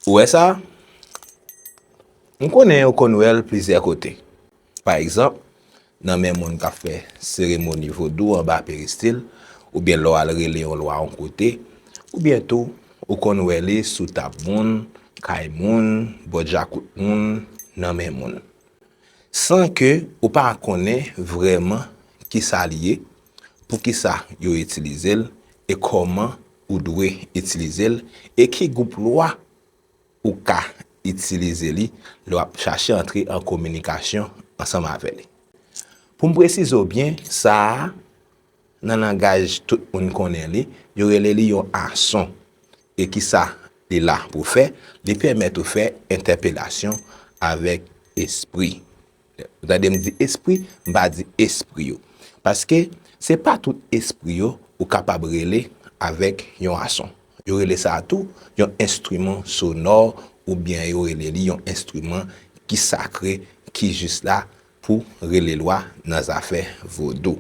Ou wè sa? M konnen yo konn wè l plizyè kote. Pa egzanp, nan men moun k ap fè seremoni vodou anba peristil oubyen lè w al rele yon lwa yon kote, oubyen tou ou konn wè li sou tab moun, kay moun, bò djakout moun, nan men moun. San ke ou pa konnen vrèman kisa li ye, poukisa yo itilize l e kòman ou dwe itilize l e ki gwoup lwa ou ka itilize li lè w ap chache antre an kominikasyon ansanm avè li. Pou m presize w byen, sa a, nan langaj tout moun konnen li, yo rele li yon ason. E ki sa li la pou fè? Li pèmèt ou fè entèpelasyon avèk espri. Lè ou tande m di espri, m pa di espri yo. Paske, se pa tout espri yo ou kapab rele avèk yon ason. Yo rele sa a tou yon enstriman sonò oubyen yo rele li yon enstriman ki sakre ki jis la pou rele lwa nan zafè vodou.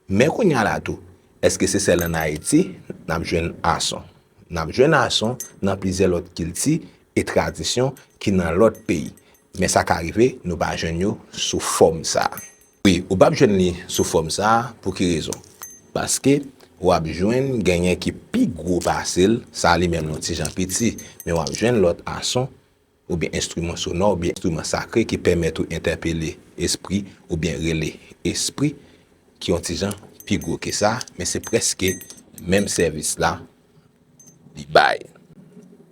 Men kounye a la tou, èske se sèl ann Ayiti n ap jwenn ason? N ap jwenn ason nan plizyè lòt kilti e tradisyon ki nan lòt peyi, men sa ka rive nou pa jwenn yo sou fòm sa a. Wi, ou pap jwenn li sou fòm sa a, pou ki rezon? Paske, w ap jwenn genyen ki pi gwo pase l, sa a li menm yon ti jan piti, men w ap jwenn lòt ason, oubyen enstriman sonò, oubyen enstriman sakre ki pèmèt ou entèpele espri, oubyen rele espri, ki yon ti jan pi gwo ke sa, men se prèske menm sèvis la, li bay.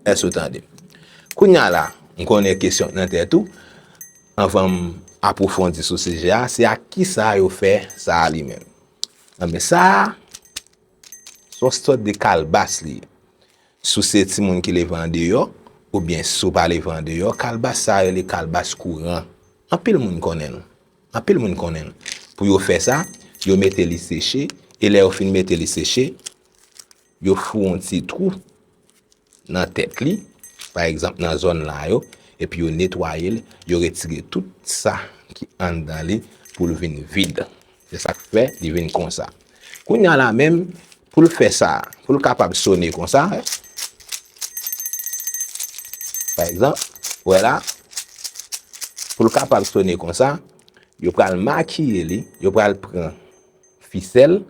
Èske ou tande m? Kounye a la, m konnen kesyon k nan tèt ou, anvan m apwofondi sou sijè a, se ak ki sa yo fè sa a li menm? Anben, sa a, s on sòt de kalbas li ye. Si w se timoun ki leve andeyò, oubyen si w pa leve andeyò, kalbas sa a rele kalbas kouran. Anpil moun konnen l. Anpil moun konnen l. Pou yo fè sa, yo mete li seche, e lè yo fin mete li seche, yo fou yon ti twou nan tèt li, pa egzanp nan zòn la yo, epi yo netwaye l, yo retire tout sa ki anndan li pou l vin vid. Se sa k fè li vin konsa. Kounye a la menm, pou l fè sa, pou l kapab sone konsa, pa egzanp, ou wè la, pou l kapab sone konsa, yo pral makiye li, yo pral pran fisèl,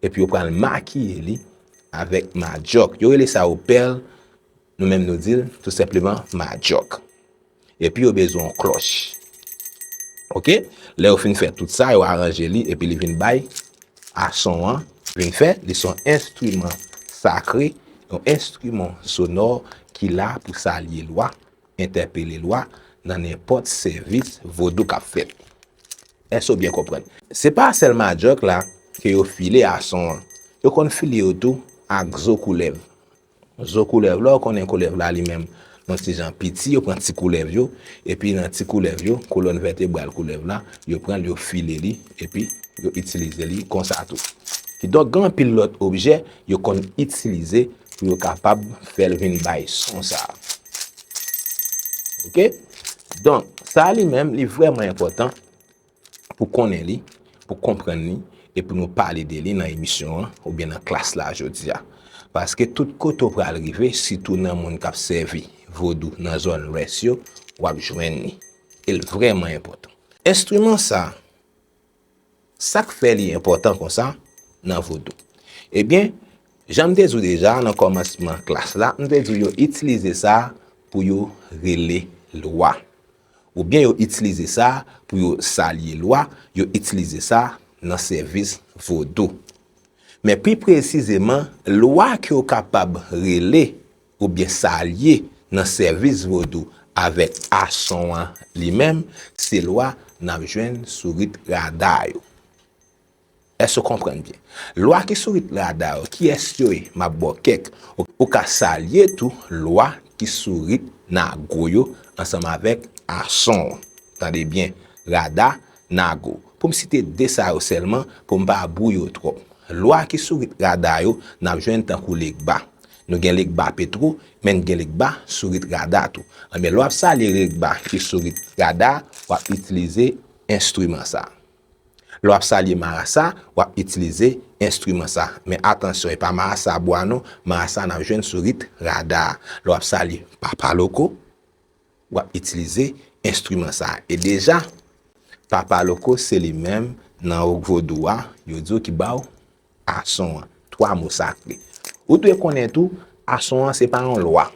epi yo pral makiye li avèk madyòk. Yo rele sa yo pèl, nou menm nou di l tou senpleman madyòk. Epi yo bezwen yon klòch. Ok, lè yo fin fè tout sa, yo aranje li epi li vin bay a son an vin fè. Li son enstriman sakre, yon enstriman sonò ki la pou salye lwa. entèpele lwa nan nenpòt sèvis vodou kap fèt. Èske ou byen konprann? Se pa sèl madjòk la ke yo file a son an. Yo konn file yo tou ak zo koulèv. Zo koulèv la ou konnen koulèv la li menm yon ti jan piti yo pran ti koulèv yo epi nan ti koulèv yo kolòn vètebral koulèv la yo pran l yo file li epi yo itilize li konsa tou. Kidonk gen anpil lòt objè yo konn itilize pou yo kapab fè l vin bay son sa a. Ok, donk sa a li menm li vrèman enpòtan pou konnen li, pou konprann li e pou nou pale de li nan emisyon an oubyen nan klas la jodi a. Paske tout kote ou pral rive, sitou nan moun k ap sèvi vodou nan zòn lwès yo, w ap jwenn li. E l vrèman enpòtan. Enstriman sa a, Sa k fè li enpòtan konsa nan vodou? Ebyen, jan m te di w deja nan kòmansman klas la, m te di w yo itilize sa pou yo rele lwa. Oubyen yo itilize sa pou yo salye lwa, yo itilize sa nan sèvis vodou. Men pi presizeman, lwa ke yo kapab rele Ou byen sa lye nan sèvis vodou avèk a son an li menm se lwa nap jwenn sou rit rada yo èske ou konprann byen lwa ki sou rit rada yo kiyès yo ye map baw kèk ou ka sa lye tou lwa ki sou rit nago yo ansanm avèk a son an tande byen rada nago poum site 2 sa yo sèlman poum pa bwouye ou twòp lwa ki sou rit rada yo nap jwenn tankou legba Nou gen Legba Petro, men n gen Legba Sourit Rada tou. Anben, lè w ap salye Regba ki Sourit Rada, w ap itilize enstriman sa. Lè w ap salye Marasa, w ap itilize enstriman sa. Men atansyon, e pa Marasa bwa non, Marasa n ap jwenn Sourit Rada. Lè w ap salye Papa Loko. W ap itilize enstriman sa a. E deja, Papa Loko se li menm nan Rock Vodou a, yo di w ki ba w ason an, twa mo sakre. Ou dwe konnen tou, ason an se pa yon lwa.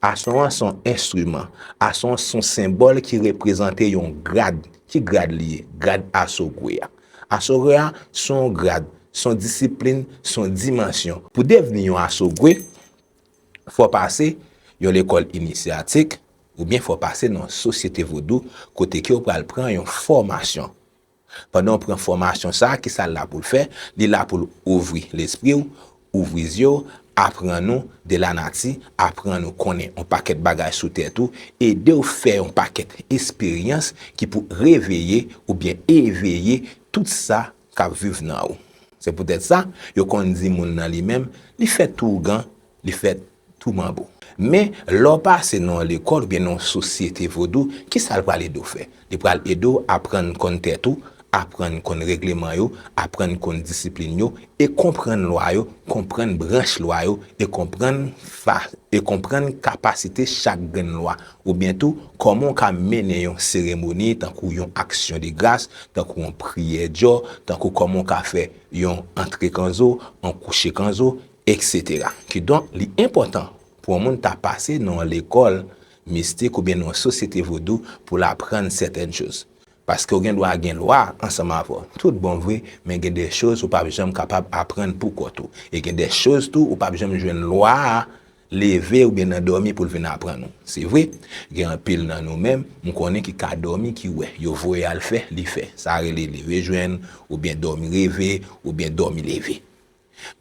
Ason an se yon enstriman. Ason an se yon senbòl ki reprezante yon grad. Ki grad li ye? Grad Asogwe a. Asogwe a, se yon grad, se yon disiplin, se yon dimansyon. Pou devni yon Asogwe, Fò w pase yon lekòl inisyatik oubyen fò w pase nan yon sosyete vodou kote ke w pral pran yon fòmasyon. Pandan w pran fòmasyon sa a, kisa l la pou l fè? Li la pou l ouvri lespri w, ouvri zye w, aprann ou de lanati, aprann ou konnen yon pakèt bagay sou tèt ou, ede w fè yon pakèt esperyans ki pou reveye oubyen eveye tout sa K ap viv nan ou. Se poutèt sa, yo konn di moun nan li menm, Li fèt tou ougan, li fèt tou manbo. Men, lè w pase nan yon lekòl oubyen nan yon sosyete vodou, ki sa l pral ede w fè? Li pral ede w aprann konn tèt ou, aprann konn regleman yo, aprann konn disiplin yo, e konprann lwa yo, konprann branch lwa yo, e konprann fa, e konprann kapasite chak grenn lwa, Oubyen tou, kòman w ka mennen yon seremoni tankou yon aksyon de gras, tankou yon priyè djò, tankou kòman w ka fè yon antre kanzo, yon kouche kanzo, eksetera. Kidonk, li enpòtan pou yon moun ta pase nan yon lekòl mistik oubyen nan yon sosyete vodou pou l aprann sèten choz. Paske w gen dwa gen lwa ansanm avè w tout bon vre, men gen de choz ou p ap janm kapab aprann pou kont ou. E gen de choz tou ou p ap janm jwenn lwa a Leve oubyen nan dòmi pou l vin aprann ou. Se vre, gen anpil nan nou menm, m konnen ki ka dòmi ki wè, yo voye al fè, li fè. Sa rele leve jwenn, oubyen dòmi reve, oubyen dòmi leve.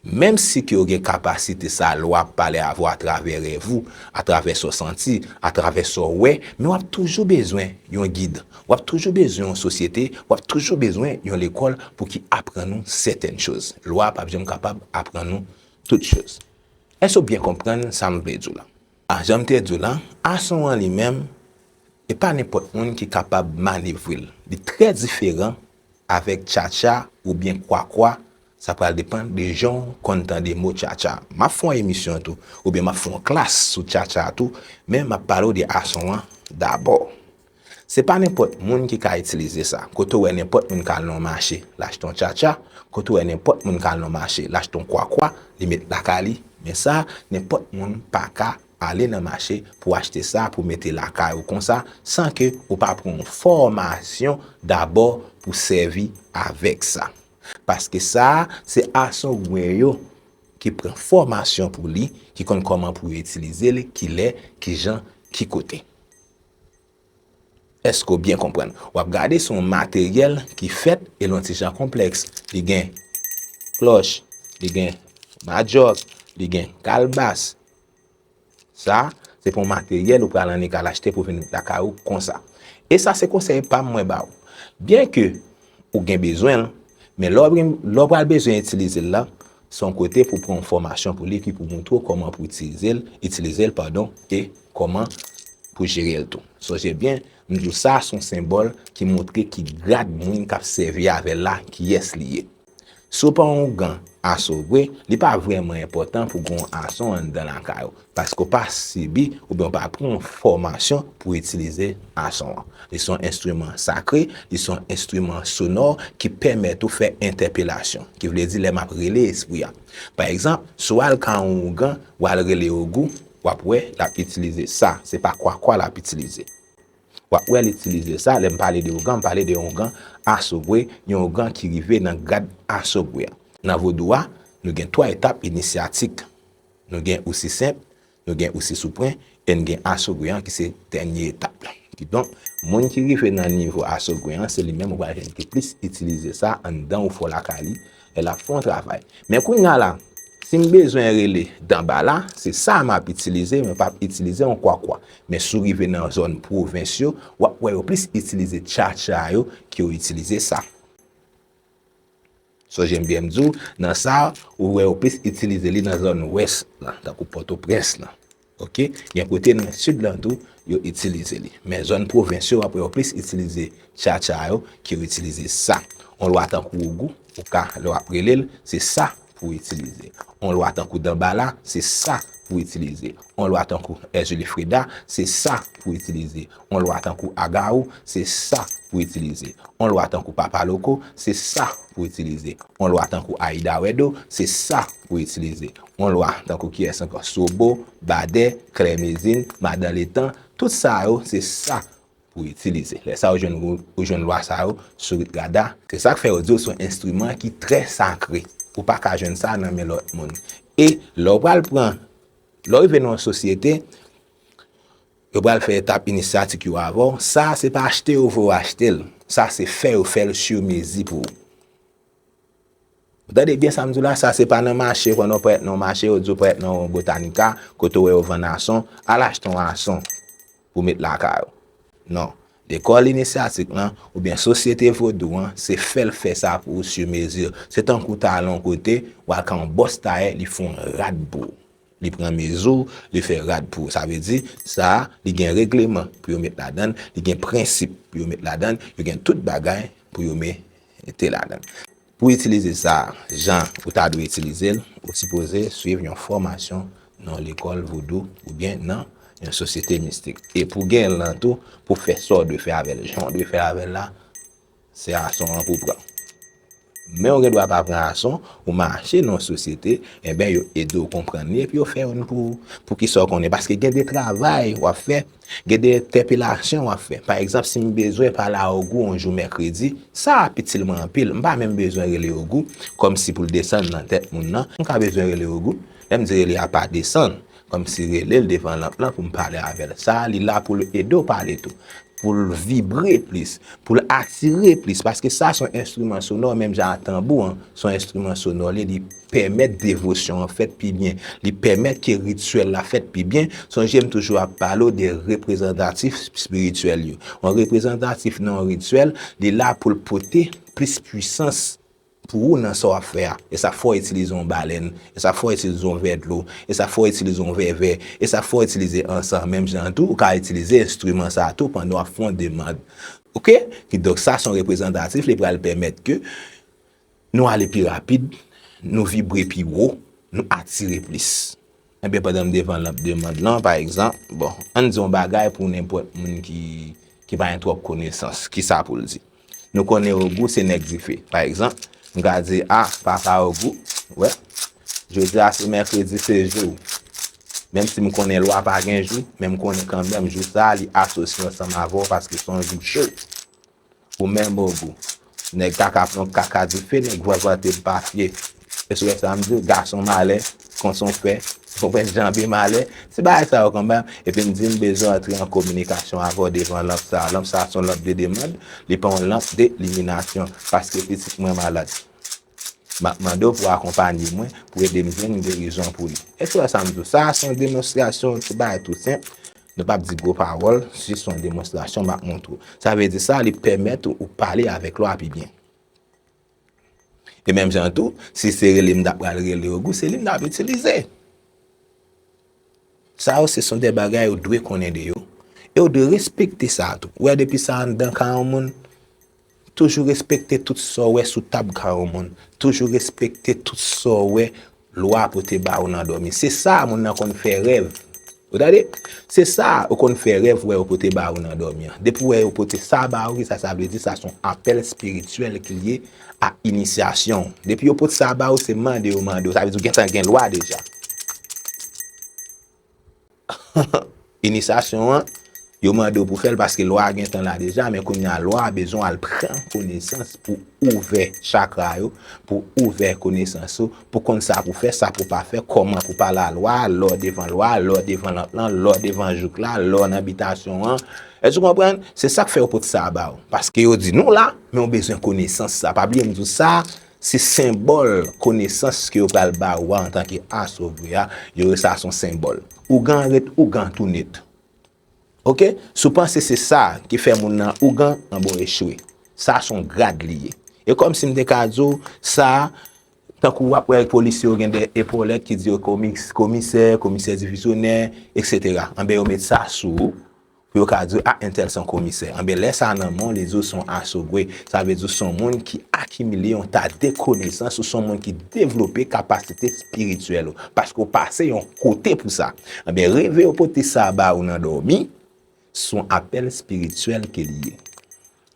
Menm si ke ou gen kapasite sa a lè w ap pale avè w atravè rèv ou, atravè sa w santi, atravè sa w wè, men w ap toujou bezwen yon gid, w ap toujou bezwen yon sosyete, w ap toujou bezwen yon lekòl pou ki aprann ou sètèn choz. Lwa a p ap janm kapab aprann ou tout choz. Èske w byen konprann sa m vle di w la? A Jan m te di w la, ason an li menm, e pa nenpòt moun ki kapab manevre l. Li trè diferan avèk tchatcha oubyen kwakwa, sa pral depann de jan w konn tande mo tchatcha. M ap fè yon emisyon tou, oubyen m ap fè yon klas sou tchatcha tou, men m ap pale w de ason an dabò. Se pa nenpòt moun ki ka itilize sa. Kote w wè nenpòt moun ka al nan yon mache, l achte yon tchatcha, kote w wè nenpòt moun ka al nan yon mache, l achte yon kwakwa, li met lakay li, men sa, nenpòt moun pa ka ale nan mache pou achte sa pou mete lakay ou konsa san ke ou pa pran yon fòmasyon dabò pou sèvi avèk sa. Paske sa a, se asongwen yo ki pran fòmasyon pou li, ki konn kòman pou yo itilize li, kilè, kijan, ki kote. Èske w byen konprann? W ap gade sou yon materyèl ki fèt e l yon ti jan konplèks. Li gen klòch, li gen madjòk, li gen kalbas. Sa, se pou yon materyèl ou pral annik al achte pou vin lakay ou konsa. E sa se konsèy pa m mwen ba ou. Byenke ou gen bezwen l, men lè w pral bezwen itilize l la, Se yon kote pou pran yon fòmasyon pou li epi pou montre w kòman pou itilize l, itilize l padon, e kòman pou jere l tou. Sonje byen, m di w sa a se yon senbòl ki montre ki grad moun k ap sèvi avè l la, kiyès li ye. Si w pa yon gan aso vre, li pa vrèman enpòtan pou gen yon aso anndan lakay ou. Paske w pa sibi oubyen w pa pran yon fòmasyon pou w itilize ason an. Li se yon enstriman sakre, li se yon enstriman sonò ki pèmèt ou fè entèpelasyon, ki vle di lè m ap rele espri a. Pa egzanp, si w al ka yon ougan, w al rele Ogou, w ap wè l ap itilize sa, se pa kwakwa l ap itilize. W ap wè l itilize sa, lè m pale de ougan, m pale de yon ougan asogwe, yon ougan ki rive nan grad asogwe a. Nan vodou a, nou gen twa etap inisyatik. Nou gen osi senp, nou gen osi sou pwen, e n gen asogwe an ki se dènye etap la. Kidonk, moun ki rive nan nivo asogwe an, se li menm ou pral jwenn ki plis itilize sa anndan ou fè w lakay li, lè l ap fè yon travay. Men kounya la, si m bezwen rele danba la, se sa m ap itilize, mwen p ap itilize yon kwakwa. Men si w rive nan zòn pwovens yo, w ap wè yo plis itilize tchatcha yo ke yo itilize sa. Sò jem byenm di w nan sa a, ou wè yo plis itilize li nan zòn wès lan, tankou Pòtoprens lan. Ok. Gen kote nan sid lan tou, yo itilize li. Men zòn pwovens yo, w ap wè yo plis itilize tchatcha yo ke yo itilize sa. On lwa tankou ogou, ou ka, lè w ap rele l, se sa pou w itilize. On lwa tankou danbala, se sa pou w itilize. On lwa tankou èzili freda, se sa pou w itilize. On lwa tankou Agaou, se sa pou itilize. On lwa tankou Papa Loko, se sa pou itilize. On lwa tankou Ayida Wèdo, se sa pou itilize. On lwa tankou kiyès ankò? Sobo, Badè, Klè Mezin, Madan Letan, tout sa yo se sa pou itilize. Lè sa ou jwenn lwa sa yo sou rit Gada. Se sa k fè yo di yo se yon enstriman ki trè sakre. Ou pa ka jwenn sa nan men lòt moun. E lè ou pral pran, lè ou rive nan yon sosyete, Yo pral fè etap inisyatik yo avè w, sa se pa achte yo vwe w achte l, sa se fè yo fè l sur mezi pou ou. Ou tande byen sa m di w la, sa se pa nan mache kwen nan w prèt nan yon mache yo di w prèt nan yon botanika kote w wè yo vann ason, al achte yon ason pou w met lakay ou. Non, lekòl inisyatik lan oubyen sosyete vodou an se fè l fè sa pou ou sur mezi. Se tankou w ta al yon kote, w al ka yon bòs tayè li fè yon rad pou ou. Li pran mezi w, li fè rad pou ou. Sa vle di, sa a, li gen regleman pou yo met ladan l, li gen prensip pou yo met ladan l, yo gen tout bagay pou yo mete ladan l. Pou w itilize sa a jan ou ta dwe itilize l, ou sipoze suiv yon fòmasyon nan yon lekòl vodou oubyen nan yon sosyete mistik. E pou w gen l lan tou, pou w fè sa w dwe fè avè l jan w dwe fè avè l la, Se ason an pou pran. Men ou gen dwa pa pran ason, ou mache nan yon sosyete, enben yo ede w konprann li epi yo fè youn pou ou. Poukisa ou konnen? Paske gen de travay w ap fè, gen de entèpelasyon w ap fè. Pa egzanp, si m bezwen pale a Ogou yon jou mèkredi, sa ap itil mwen anpil. M pa menm bezwen rele Ogou kòmsi pou l desann nan tèt moun nan. M ka bezwen rele Ogou, lè m di rele a pa desann, Kòmsi relel devan lanp lan poum pale avèl sa li la poul ede w pale tou poul vibre plis poul atire plis paske sa son enstriman sonò menm jan a tanbou an son enstriman sonò li li pèmèt devosyon an fèt pi byen li pèmèt ke rityèl la fèt pi byen sonje m toujou ap pale w de reprezantatif spirityèl yo yon reprezantatif nan yon rityèl li la poul pote plis pwisans Pou ou nan sa w ap fè a, e sa fè w itilize yon balèn, e sa fè w itilize yon vè dlo, e sa fè w itilize yon vè vè, e sa fè w itilize ansan. Menm jan an tou, ou ka itilize enstriman sa a tou pandan w ap fè yon demand. Ok? Kidonk, sa se yon reprezantatif, li pral pèmèt ke nou ale pi rapid, nou vibre pi wo, nou atire plis. Enben pandan m devan lanp demand lan, pa egzanp, bon, ann di yon bagay pou nenpòt moun ki pa gen twòp konesans, ki sa pou l di? Nou konnen Ogou se nèg dife. Pa egzanp, m ka di, a, papa Ogou, wè, jodi a se mèkredi, se jou ou. Menm si m konnen lwa pa gen jou, men m konnen kanmenm jou sa a li asosye ansanm avè w paske se yon jou cho. Ou menm ogou. Nèg kaka pran kaka dife nèg vwavwate mpafye Èske w wè sa m di w gason malè kon son fè Ou wè janbe malè Se bagay sa yo konbam Epi m di m bezwen antre an kominikasyon avè w devan lanp sa Lanp sa son lanp de demand Li pa yon lanp de liminasyon Paske pitit mwen malad M ap mande w pou w akonpanye mwen Pou ede m jwenn gerizon pou li Èske w wè sa m di w Sa a son demonstrasyon yon ti bagay tou senp Nou pap di gwo pawòl, jis yon demonstrasyon m ap montre w. Sa vle di sa li pèmèt ou ou pale avèk lwa pi byen. E menm jan an tou, si se rele m ta pral rele w, se li m t ap itilize. Sa yo se son de bagay ou dwe konnen de yo, e ou dwe respekte sa tou. Ou wè depi sa anndan ka yon moun, Toujou respekte tout sa w wè sou tab ka yon moun. Toujou respekte tout sa w wè lwa pou te ba ou nan dòmi. Se sa a moun nan konn fè rèv. Ou tande? Se sa a ou konn fè rèv wè yo pote ba ou nan dòmi an. Depi w wè yo pote sa ba ou, ki sa sa vle di? Sa se yon apèl espirityèl ki lye a inisyasyon w. Depi yo pot sa ba ou, se mande yo mande ou. Sa vle di ou gentan gen lwa deja. Inisasyon an, yo mande w pou fè l paske lwa a gentan la deja, men kounye a lwa a bezwen w al pran konesans pou ouvè chakra yo, pou ouvè konesans ou, pou konn sa pou fè, sa pou pa fè, kòman pou pale a lwa a, lè w devan lwa a, lè w devan lòt lan, lè w devan jouk la, lè w nan bitasyon an. Èske ou konprann? Se sa k fè yo pot sa ba w. Paske yo di nou la, men ou bezwen konesans sa. Pa bliye m di w sa, Se senbòl konesans ke yo pral ba ou a antanke aso vre a, yo rele sa son senbòl. Ougan an ret ougan tou net. Ok? Si w panse se sa ki fè moun nan ougan, anben w echwe. Sa son grad li ye. E kòm si m te ka di w, sa, tankou w ap wè polisye yo gen de epolèt ki di yo komis, komisè, komisè divizyonè, eksetera. Anben yo met sa sou ou, Pou yo ka di w, a entèl son komisè. Anben lè sa nan men w, li di w son asogwe. Sa vle di w son moun ki akimile yon ta de konesans, ou son moun ki devlope kapasite spirityèl ou. Paske w pase yon kote pou sa. Anben reve yo pote sa ba ou nan dòmi, son apèl spirityèl ke li ye.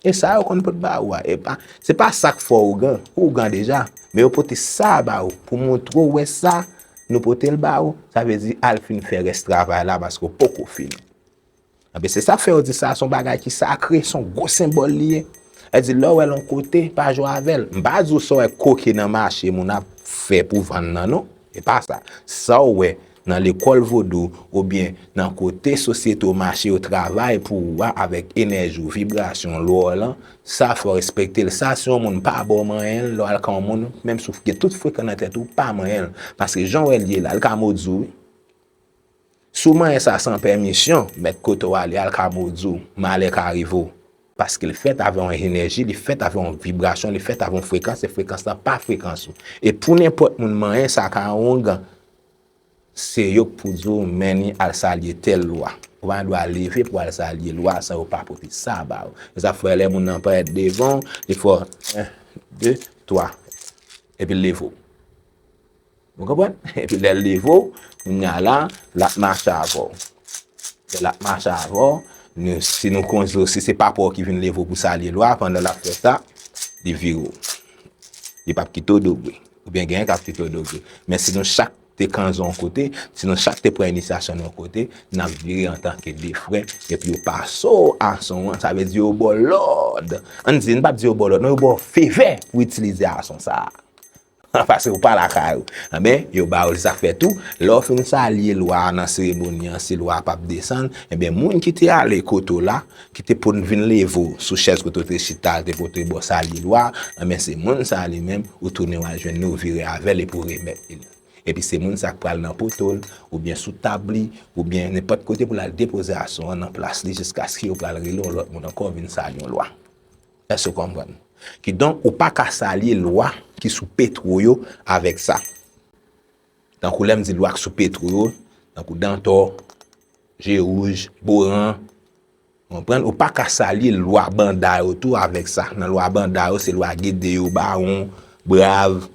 E sa yo konn pot ba ou a, epa, se pa sa k fè w ougan, ou ougan deja, men yo pote sa a ba ou pou montre w wè sa, nou pote l ba ou, sa vle di al fin fè rès travay la paske w poko fini. Anben, se sa k fè yo di sa a se yon bagay ki sakre, se yon gwo senbòl li ye. Yo di lè w wè l yon kote, pa jwe avè l. M pa di w sa w wè koke nan mache moun ap fè pou vann nan non. Epa sa. Saw wè nan lekòl vodou ou byen nan kote sosyete w mache yo travay pou ou a avèk enèji w, vibrasyon w, lwa w lan, sa fòw respekte l. Sa si yon moun pa baw manyen l lè w al kan yon moun, menm si w gen tout frekan nan tèt ou, pa manyen l. Paske jan w wè l ye la, li ka modi w wi. Si w manyen sa san pèmisyon, mèt kote w ale a l ka modi w, malè ka rive w. Paske l fèt avè yon enèji, li fèt avè yon vibrasyon, li fèt avè yon frekans e frekans lan pa frekans ou. E pou nenpòt moun manyen sa ka yon oungan, se yo k pou di w men ni al salye tèl lwa. Ou pa gen dwa leve pou w al salye lwa san yo pa pote sa ba ou. Se sa k fè lè moun nan parèt devan w, li fè w 1, 2, 3 epi l leve w. Nou konprann? Epi lè l leve w, kounye a la, l ap mache avè w. Lè l ap mache avè w, si nou konze w, si se papa w ki vin leve w pou salye lwa, pandan l ap fè sa, li vire w. Li p ap kite w dobe. Oubyen genyen k ap kite w dobe. Men si nou chak te kanze w yon kote, si nou chak te pran inisyasyon nou yon kote, n ap vire an tanke de frè, epi yo pase w ason an. Sa vle di yo ba w lòd. Ann di, n pa di yo ba w lòd non, yo ba w fevè pou w itilize ason sa a. Pase ou pa lakay ou. Enben, yo ba ou zafè tou. Lè ou fin salye lwa a nan seremoni an, si lwa a pap desann, enben moun ki te ale kote ou la, ki te poun vin leve ou sou chèz kote ou te chita a te pote ba w salye lwa a, enben se moun sa a li menm, ou tounen w'al jwenn li, ou vire avè l epi ou remèt li l. Epi se moun sa a k pral nan poto l, oubyen sou tab li, oubyen nenpòt kote pou l'al depoze ason an nan plas li jiskaske yo pral rele yon lòt moun ankò vin salye yon lwa. Èske w konprann? Kidonk, ou pa ka salye lwa ki sou Petro yo avèk sa. Tankou lè m di lwa ki sou Petro yo, tankou Dantò, Je Wouj, Boran, ou konprann, ou pa ka salye lwa banda yo tou avèk sa. Nan lwa banda yo, se lwa Gede yo, Bawon, Brav,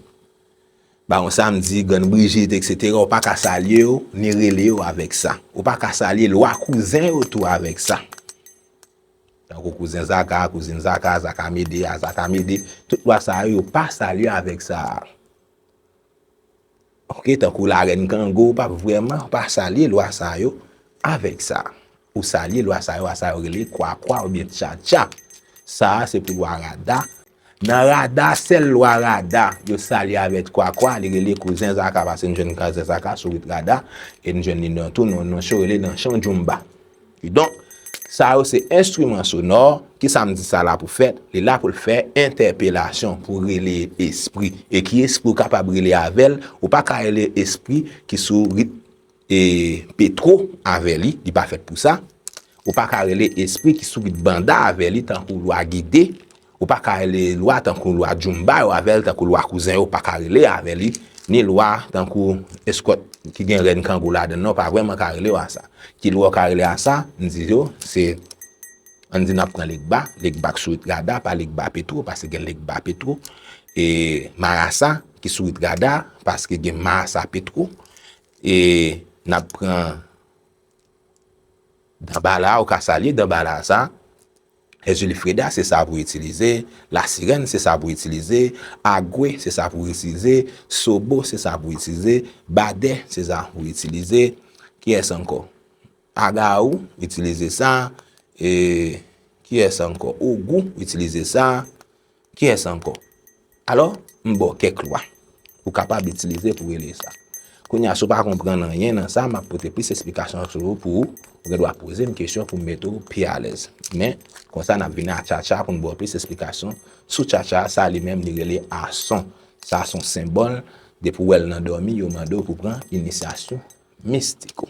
Bawon Samdi, Grann Brijit, eksetera, ou pa ka salye yo, ni rele yo avèk sa. Ou pa ka salye lwa kouzen yo tou avèk sa. Tankou kouzen Zaka, kouzin Zaka, Zaka Mede, Azaka Mede, tout lwa sa yo, yo pa salye avèk sa a. Ok, tankou Larèn Kango, ou pa vrèman, ou pa salye lwa sa yo avèk sa. Ou salye lwa sa yo a sa yo rele Kwakwa oubyen Tchatcha. Sa a se pou lwa Rada, Nan rada sèl lwa rada yo salye avèk kwakwa li rele kouzen zaka pase n jwenn kazèk zaka sou rit rada e n jwenn li nan tou nan yon cho rele nan chan djoumba kidonk sa yo se enstriman sonò ki sa m di sa la pou fè li la pou l fè entèpelasyon pou rele espri e ki espri ou kapab rele avè l ou pa ka rele espri ki sou rit E petro avè li, li pa fèt pou sa. Ou pa ka rele espri ki sou pit banda avè li tankou lwa gide. Ou pa ka rele lwa tankou lwa djoumba yo avè li tankou lwa kouzen yo pa ka rele avè li. Ni lwa tankou eskòt ki gen rèn kangou ladan nan ou pa vrèman ka rele yo a sa. Ki lwa ou ka rele a sa? M di yo, se an di n ap pran legba, legba ki sou rit rada pa legba petro paske gen legba petro. E marasa ki sou rit rada paske gen marasa petro. E nap pran Danbala ou ka salye Danbala sa. Èzili Freda se sa pou itilize. La Sirèn se sa pou itilize. Agwe se sa pou itilize. Sobo se sa pou itilize. Badè se sa pou itilize. Kiyès ankò? Aga ou itilize sa. E kiyès ankò? Ogou itilize sa. Kiyès ankò? Alò, m ba w kèk lwa ou kapab itilize pou regle sa. Kounye a, si w pa konprann anyen nan sa, m ap pote plis esplikasyon sou yo pou ou. Ou gen dwa poze m kesyon pou m mete w pi alèz. Men, konsa n ap vini a tchatcha pou n ba w plis esplikasyon sou tchatcha a. Sa li menm li rele ason. Sa son senbòl. Depi w wè l nan dòmi, yo mande w pou w pran inisyasyon mistik ou.